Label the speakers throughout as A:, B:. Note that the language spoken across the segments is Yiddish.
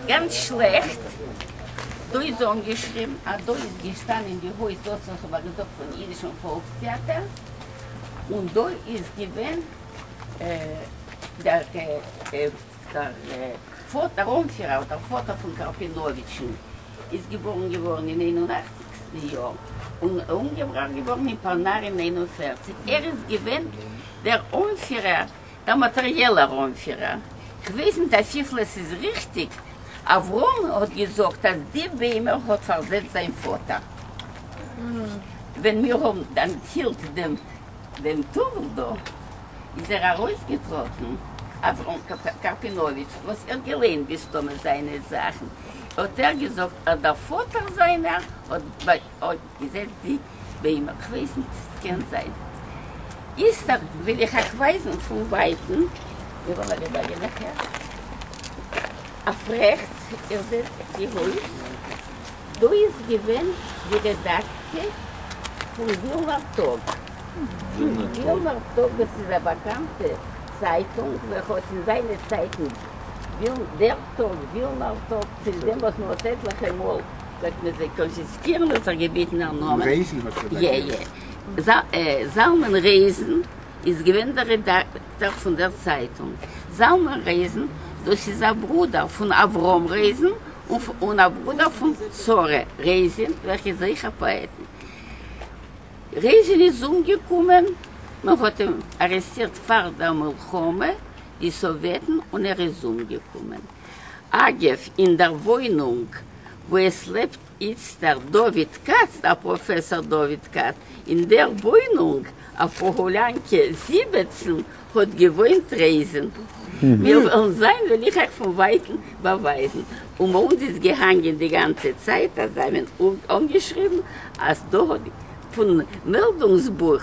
A: ס'גאנץ שלעכט, דא איז אנגעשריבן אז דא איז געשטאנען די הויז דאס וואס איך האב א געזאגט פון אידישן פאלקס טעאטער, און דא איז געווען דער פאטער אנפירער אדער פאטער פון קארפינאוויטשן איז געבארן געווארן אין איין און אכציגסטן יאר און אומגעבראכט געווארן אין פאנאר אין איין און פערציג ער איז געווען דער אנפירער דער מאטעריעלער אנפירער, כ'ווייס ניט אפיפל עס איז ריכטיק, אברהם האט געזאגט אז די ביימער האט פארזעצט זיין פאטער. ווען מיר האבן אנטהילט דעם טאוול דא, איז ער ארויסגעטראטן, אברהם קארפינאוויטש, וואס ער האט געליינט מסתמא זיינע זאכן, האט ער געזאגט אז דער פאטער זיינער האט געזעצט די ביימער, כ'ווייס ניט, ס'קען זיין איסתר, וויל איך אייך ווייזן פון ווייטן, מיר האבן אביסל א יענקע, אויף רעכטס, איר זעט די הויז, דא איז געווען די רעדאקציע פון ווילנער טאג, ווילנער טאג דאס איז א באקאנטע צייטונג וועלכע האט אין זיינע צייטן, דער טאג, ווילנער טאג. צוליב
B: דעם וואס מען האט
A: עטליכע מאל וועט מען זיי קאנפיסקירן האט ער געבעטן דער נאמען רעיזן האט ער באגערט. זלמן רעיזן איז געווען דער רעדאקטאר פון דער צייטונג. זלמן רעיזן, דאס איז א ברודער פון אברהם רעיזן און א ברודער פון שרה רעיזין וועלכע איז אויך א פאעטן. רעיזין איז אומגעקומען, מען האט אים ארעסטירט פאר דער מלחמה, די סאוועטן, און ער איז אומגעקומען. אגב, אין דער וואוינונג וואו עס לעבט איצטער דוד כץ, דער פראפעסאר דוד כץ, אין דער וואוינונג אויף פאהאלאנקע זיבעצן האט געוואוינט רעזין. מיר וועלן זען, וועל איך אייך פון ווייטן באווייזן. און ביי אונז איז געהאנגען די גאנצע צייט אז זיי האבן אנגעשריבן אז דא האט פון מעלדונגס-בוך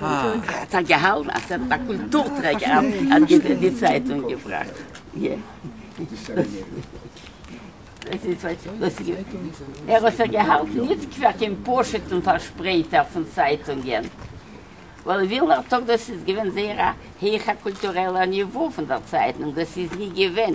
A: האט ער געהאלטן אז ער איז א קולטור טרעגער אז ער האט די צייטונג געבראכט. ער האט זיך געהאלטן ניט פאר קיין פושט און פארשפרייטער פון צייטונגען, ווייל ווילנער טאג דאס איז געווען זייער א הייכער קולטורעלער ניווא פון דער צייטונג דאס איז ניט געווען